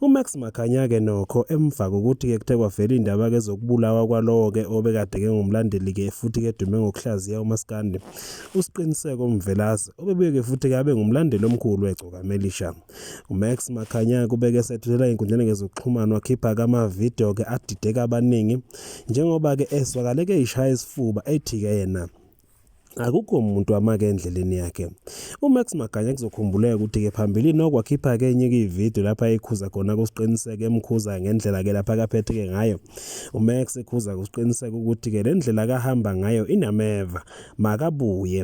UMax Makhanya-ke nokho emva kokuthi-ke kuthe kwavela indaba-ke zokubulawa kwalowo-ke obekade-ke ngumlandeli-ke futhi-ke dume ngokuhlaziya umaskandi usiqiniseko mvelase obebuye-ke futhi-ke abe ngumlandeli omkhulu wegcokamelisha umax makhanya kubeke esethulela ey'nkundleni-ke zokuxhumana wakhipha-ke amavidiyo-ke adideka abaningi njengoba-ke ezwakaleke ishaya isifuba ethi-ke yena Akukho muntu amake endleleni yakhe. UMax Maganya kuzokhumbuleka ukuthi-ke phambilini okwakhipha-ke enye-ke ividiyo lapho ayekhuza khona kusiqiniseko emkhuza ngendlela-ke lapho akaphethe-ke ngayo. UMax ekhuza kusiqiniseko ukuthi-ke le ndlela akahamba ngayo inameva, makabuye.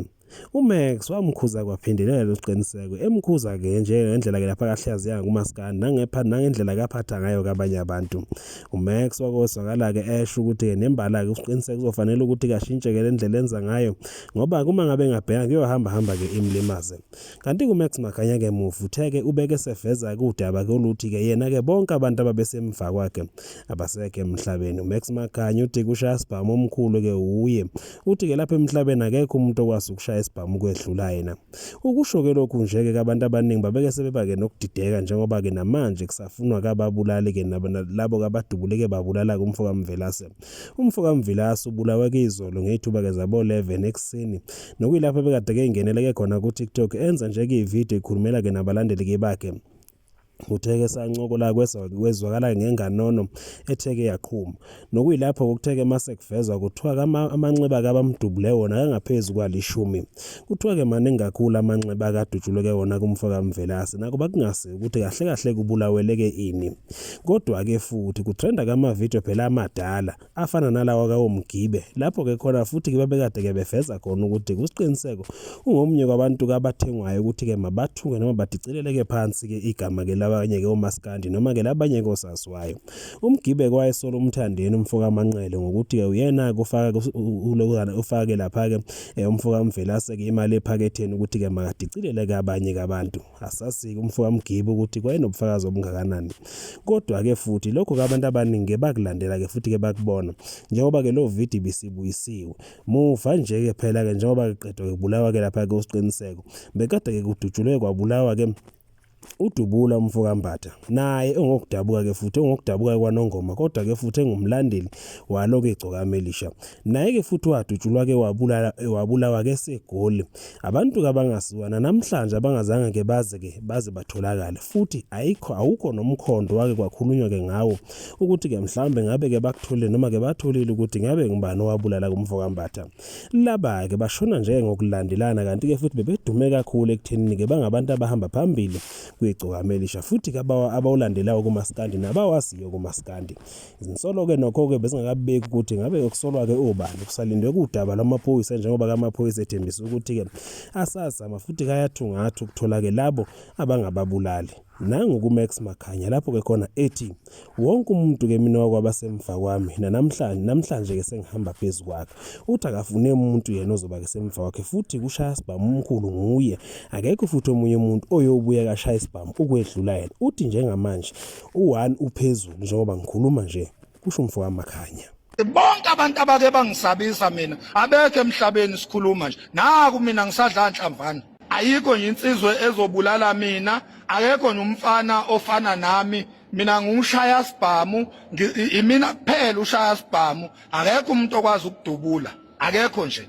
UMax wamkhuza kwaphindelela losiqiniseko emkhuza-ke njengendlela-ke lapho akahlaziya ngakumaskandi nangepha nangendlela akaphatha ngayo kabanye abantu. UMax wake wezwakala-ke esho ukuthi-ke nembala-ke usiqiniseka kuzofanele ukuthi-ke ashintshe-ke le ndlela enza ngayo ngoba uma ngabe engabheka kuyohambahamba-ke imlimaze kanti-ke umax maganya-ke muva uthe-ke ubeke seveza-ke udaba-ke oluthi-ke yena-ke bonke abantu ababesemva kwakhe abasekho emhlabeni umax maganya uthi kushaya isibhamu omkhulu-ke uye uthi-ke lapha emhlabeni akekho umuntu okwazi ukushaya isibhamu kwedlula yena Ukusho-ke lokhu nje-ke abantu abaningi babeke sebeba-ke nokudideka njengoba-ke namanje kusafunwa kababulali-ke labo kabadubuleke babulala-ke umfo kaMvelase. Umfo kaMvilase ubulawe-ke izolo ngey'thuba-ke zabo-11 ekuseni nokuyilapho ebekade-ke ingeneleke khona ku-TikTok enza nje-ke ividiyo ikhulumela-ke nabalandeli-ke bakhe. Utheke sancokola kwezwakala ngenganono etheke yaqhuma. Nokuyilapho kokutheke mase kuvezwa kuthiwa amanxeba kabamdubule wona kangaphezu kwalishumi. Kuthiwa-ke maningi kakhulu amanxeba akadutshuleke wona kumfo kaMvelase. Nakuba kungase ukuthi kahle kahle kubulaweleke ini. Kodwa-ke futhi kutrenda kamavidiyo phela amadala. afana nalawa kawoMgibe lapho ke khona futhi ke babekade ke befeza khona ukuthi kusiqiniseko ungomunye kwabantu kabathengwayo ukuthi ke mabathuke noma badicileleke phansi ke igama ke labanye ke omaskandi noma ke labanye ke osaziwayo uMgibe kwayesola umthandeni umfoka Manqele ngokuthi ke uyena kufaka ulokuzana ufake lapha ke eh, umfoka Mvelase ke imali ephaketheni ukuthi ke makadicileleke abanye kabantu Asasike umfo kaMgibe ukuthi kwayenobufakazi obungakanani. Kodwa-ke futhi lokho ke abantu abaningi-ke bakulandela-ke futhi-ke bakubona njengoba-ke lo vidi bisibuyisiwe. Muva nje-ke phela-ke njengoba kuqedwa kubulawa-ke lapha-ke uSiqiniseko bekade-ke kudutshulwe kwabulawa-ke udubula umfo kambatha naye ongokudabuka-ke futhi ongokudabuka kwanongoma kodwa-ke futhi engumlandeli walo-ke igcokama elisha Naye-ke futhi wadutshulwa-ke e, wabulawa-ke eseGoli. Abantu kabangasiwa nanamhlanje abangazange-ke baze-ke baze batholakale, futhi ayikho awukho nomkhondo wake kwakhulunywa-ke ngawo ukuthi-ke mhlawumbe ngabe-ke bakutholile noma-ke batholile ukuthi ngabe ngubani owabulala kumfo kaMbatha. Laba-ke bashona nje ngokulandelana kanti-ke futhi bebedume kakhulu ekuthenini-ke bangabantu abahamba phambili kwigcokama elisha futhi-ke abawulandelayo kumaskandi nabawaziyo kumaskandi. Zinsolo-ke nokho-ke bezingakabeki ukuthi ngabe okusolwa-ke obani kusalindwe kudaba lwamaphoyisa njengoba kamaphoyisa ethembisa ukuthi-ke asazama futhi kayathungatha ukuthola-ke labo abangababulali nangu kumax makhanya lapho-ke khona ethi wonke umuntu-ke mina wakwabasemva kwami nanamhlanje namhlanje-ke sengihamba phezu kwakhe uthi akafune umuntu yena ozoba-ke semva kwakhe futhi kushaya sibhamu umkhulu nguye akekho futhi omunye umuntu oyobuya kashaya isibhamu ukwedlula yena uthi njengamanje U-one uphezulu njengoba ngikhuluma nje, kusho umfowamakhanya. Bonke abantu abake bangisabisa mina abekho emhlabeni sikhuluma nje. Naku mina ngisadla nhlamvana. Ayikho nje insizwe ezobulala mina, akekho nje umfana ofana nami. Mina ngiwushaya sibhamu, imina kuphela ushaya sibhamu. Akekho umuntu okwazi ukudubula. Akekho nje.